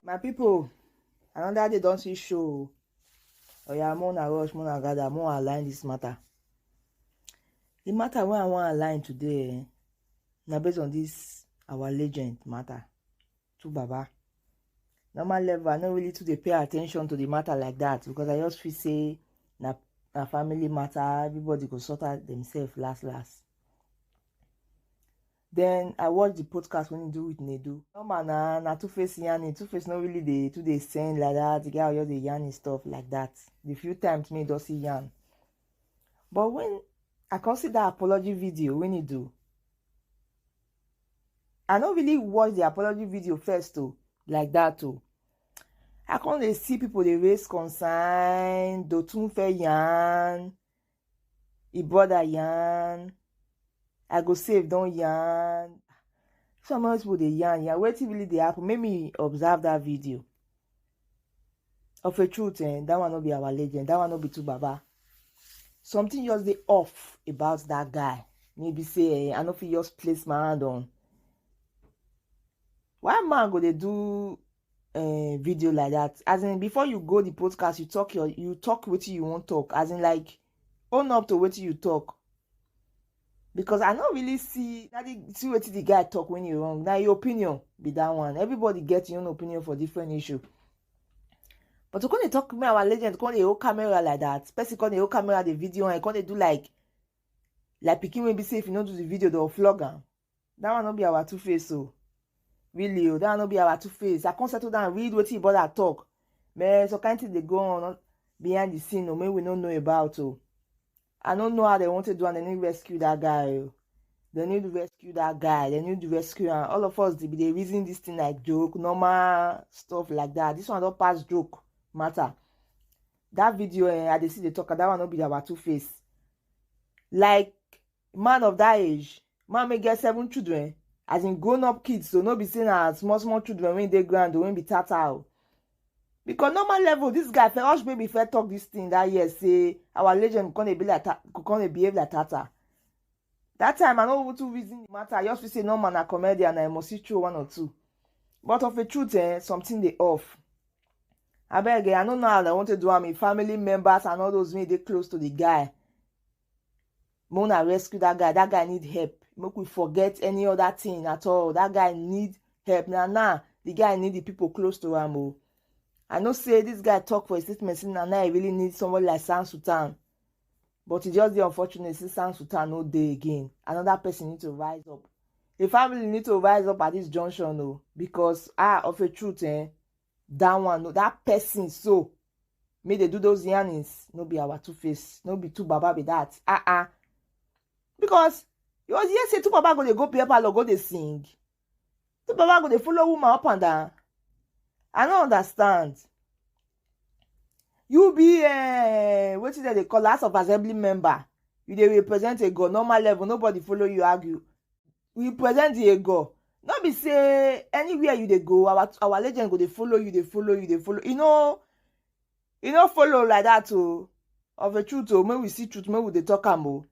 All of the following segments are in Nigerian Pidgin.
my people another day don see show oya more na rush more na gather more align this matter the matter wey i wan align today eh, na based on this our legend matter to baba normal level i no really too dey pay attention to the matter like that because i just feel say na na family matter everybody go sort out themselves last last then i watch the podcast when he do with nedu normal na na two face yarning two face no really dey too dey send like that the guy just dey yarn his stuff like that the few times me just see yarn but when i come see that apology video when he do i no really watch the apology video first o like that o i come dey see people dey raise concern dotunfe yarn e brother yarn i go save don yarn some of those people dey yarn yarn wetin really dey happen make me observe that video. Of a truth, eh, that one no be our legend. That one no be too baba. Something just dey off about that guy. Maybe say eh, I no fit just place my hand on. Why man go dey do uh, video like that? As in, before you go the podcast, you talk your you talk wetin you wan talk. As in, like own up to wetin you talk. because i no really see na the see wetin the guy talk when he wrong na your opinion be that one everybody get your own opinion for different issue but to come dey talk me our legend come dey hold camera like that person come dey hold camera the video and come dey do like like pikin wey be say if you no do the video they go flog am that one no be our two face o oh. really o oh, that one no be our two face i come settle down read wetin brother talk man some kind thing dey go on behind the scene o oh, make we no know about o i no know how dem wan take do am dem need rescue that guy o dem need rescue that guy dem need rescue am all of us dey be dey reason this thing like joke normal stuff like that this one don pass joke matter that video eh, i dey see dey talk that one no be our two face like man of that age man wey get seven children as in grown up kids so no be say na small small children wey dey ground o wey be tata o because normal level this guy Ferosh baby first talk this thing that year say our legend come dey be like come dey behave like tata that time i no even too reason the matter i just feel say normal na comedian i must see throw one or two but of a truth eh something dey off abeg eh i no know how i want to do am if family members and all those wey dey close to the guy make una rescue that guy that guy need help make we forget any other thing at all that guy need help na now the guy need the people close to am o i know say this guy talk for his statement say na now he really need somebody like sam sultan but e just dey unfortunate say sam sultan no dey again another person need to rise up the family need to rise up at this junction o because ah of a truth eh that one no that person so make they do those yarnings no be our two face no be two baba be that ah ah because you was here say two baba go dey go beer parlor go dey sing two baba go dey follow woman up and down i no understand you be uh, eh, wetin dem dey call house of assembly member you dey represent a god normal level nobody follow you argue we present the ego no be say anywhere you dey go our our legend go dey follow you dey follow you dey follow you know you know follow like that o oh. of a truth o oh, make we see truth make we dey talk am o oh.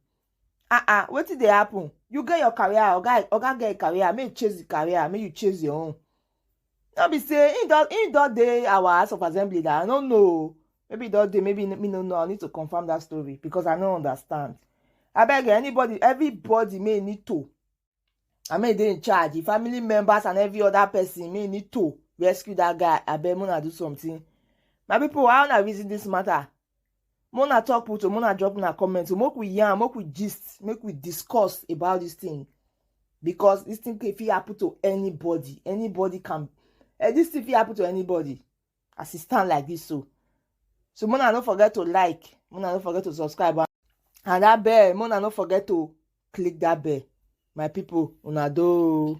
ah ah wetin dey happen you get your career oga oga get your career make you chase the career make you chase your own no be say he don he don dey our house of assembly that i no know maybe don dey maybe me no know i need to confirm that story because i no understand I beg anybody everybody may need to i mean dey in charge the family members and every other person may need to rescue that guy I beg una do something my people how una reason this matter Mona talk put o, Mona drop una comment o, make we yarn, make we gist, make we discuss about this thing because this thing can fit happen to anybody. Anybody can, eh, this thing fit happen to anybody as e stand like this so. So Mona no forget to like, Mona no forget to subscribe and and that bell, Mona no forget to click that bell. My people, una do.